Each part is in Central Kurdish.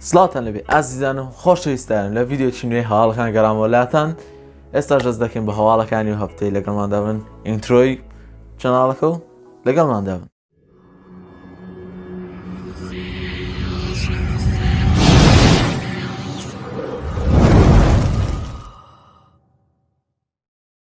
سڵاتان لەبێ ئازیزان و خۆشەویستان لە ڤیددیوکی نوێ هەواڵەکان گەرامەوە لاتان ئێستا ژەست دەکەین بە هەواڵەکانی و هەفتەی لەگەڵماندا بن ئینترۆی چەناڵەکە و لەگەڵماندا بن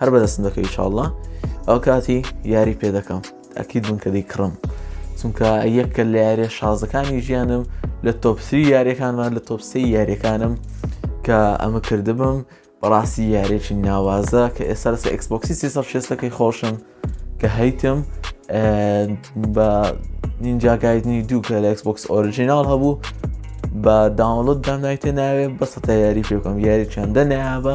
هەر بەدەستم دەکەی ئیشاڵڵا ئەو کاتی یاری پێ دەکەم ئەکید بوون کە دەی کڕم چونکە یەکە لە یارە شازەکانی ژیانم لە تۆپسری یاریەکانمان لە تۆپسی یاریەکانم کە ئەمە کردبم بەڕاستی یارێکی ناوازە کە ئێستا لەسە ئەکسبکسی سیسە شێستەکەی خۆشم کە هەیتم بە نینجاگایدنی دوو کە لە ئەکسبکس ئۆرژینال هەبوو بە داونلود دامنایتە ناوێ بەسە تا یاری پێ بکەم یاری چەندە نابە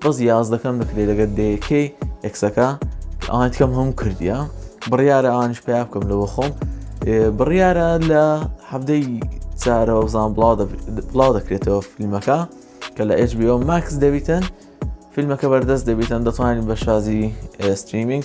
بەس یازدەکەم دەکرێت لەگەر دەیەکەی ئەکسەکە ئەوان تکەم هەموو کردیە بڕیارە ئەوانش پیا بکەم لەوە خۆم بڕیارە لە هەفتەی چارەوە بزان بڵاو دەکرێتەوە فیلمەکە کە لە HBO ماکس دەبیتن فیلمەکە بەردەست دەبیتن دەتوانین بە شازی ستریمینگ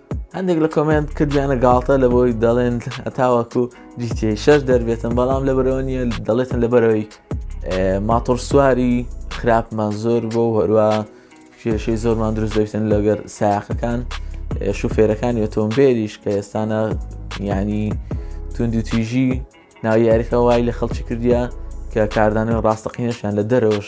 هەندێک لە کۆمنت کردیانە گاڵتە لە بۆی دەڵێن هەتاوەکو جیتی شەر دەربێتن بەڵام لە بەرەوە نیە دەڵێتن لە بەرەوەی ماتۆر سواری خراپمان زۆر بۆ هەروە کێشەی زۆرمان دروست دەویتن لەگەر ساقەکان شوفێرەکانی ئۆتۆمبێلیش کە ئێستانە ینی توند و تویژی ناو یاریەکە وای لە خەڵکی کردیا کە کاردانەوە ڕاستەقینەشیان لە دەرەوەش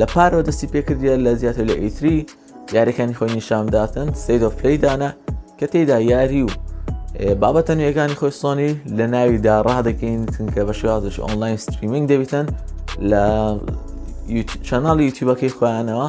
لە پارەوە دەستی پێکردە لە زیاتر لە ئیتری یاریەکانی خۆی نیشانداتن سید of پلی دانا کە تێدا یاری و بابەتە نوێگانی خۆی سۆنی لە ناویدا ڕادەکەین چونکە بە شێوازش ئۆنلاین ستریمینگ دەبیتن لە چەناڵی یوتیوبەکەی خۆیانەوە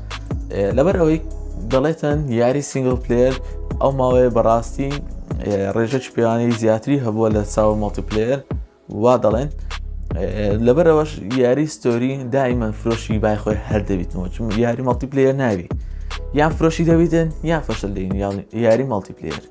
لەبەر ئەوەی دەڵێتەن یاری سنگل پلێر ئەو ماوەیە بەڕاستی ڕێژەچ پێوانی زیاتری هەبووە لە چاوە مۆتیپلێر وا دەڵێن لەبەر ئەوەش یاری ستۆری دایمە فرۆشی بای خۆی هەر دەبیتەوە چون یاری مەڵتیپلێر ناوی یان فرۆشی دەبیتن یان فەشل دەین یاری مەڵتیپلێر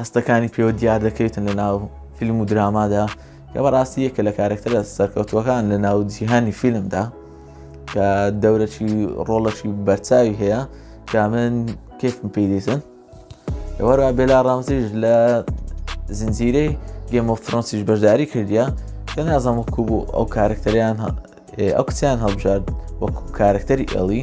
هەستەکانی پێوە دیار دەکەوێتن لە ناو فیلم و درامادا کە بەڕاستی یەکە لە کارکتەرە سەرکەوتوەکان لە ناو جیهانی فیلمدا کە دەورەی ڕۆڵەشی بەرچاوی هەیە کە من کێفم پێی دیسن وەرا بێلا ڕامزیش لە زنجیرەی گەمە فرۆنسیش بەشداری کردیا کە نازم وکو بوو ئەو کارکتەریان ئەو کچیان هەڵبژارد وەکو کارکتەری ئەڵی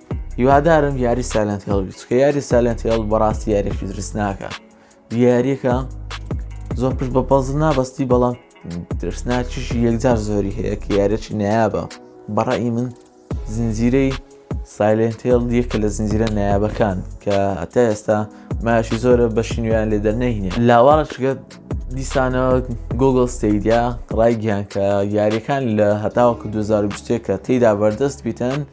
هیوادارم یاری سالنت هێڵ بچکە یاری سالنت هێڵ بەڕاستی یارێکی درستناکە یاریەکە زۆر پشت بە پەز نابستی بەڵام درستناکیشی یەکجار زۆری هەیە کە یارێکی نایابە بەڕی من زنجیرەی سایلنتێڵ یەکە لە زنجیرە نایابەکان کە ئەتا ئێستا ماشی زۆرە بە شینویان لێ دەرنەینە لاواڵەشگە دیسانە گوگل ستیدیا ڕایگەیان کە یاریەکان لە هەتاوەکو 2020 کە تێدا بەردەست بیتن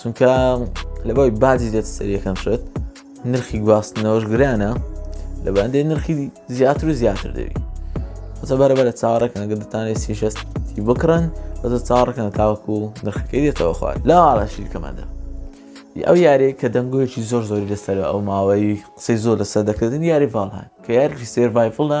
چونکە لەبەوەی باجی دێت سەریەکەم شێت نرخی گواستنەوەش گرانە لە بەندێ نرخی زیاتر و زیاتر دەوی بەسە بەرەبەرە چاڕەکەن گە دەتانێ سیشەستی بکڕن بەسە چاڕەکەن تاوەکو و نرخەکەی دێتەوە خوارد لا ئاڕاشیر کەمەدە ئەو یارێک کە دەنگۆیەکی زۆر زۆری لەسەر ئەو ماوەی قسەی زۆر لەسەر دەکردن یاری ڤالهان کە یارکی سێرڤایفڵە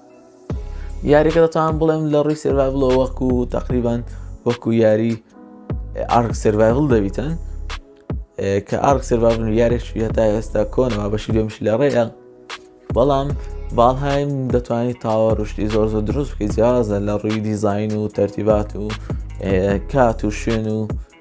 یاریەکە دەتوان بڵێم لە ڕووی سرڤایڤڵۆ وەکو تقریبان وەکو یاری ئارک سرڤایڤڵ دەبیتن کە ئارک سرڤایڤن و یارێک هەتا ئێستا کۆنەوە بەشی دوێمش لە ڕێە بەڵام باڵهایم دەتوانانی تاوە ڕشتی زۆر زۆر دروست بکەی جیازە لە ڕووی دیزین و تەرتیبات و کات و شوێن و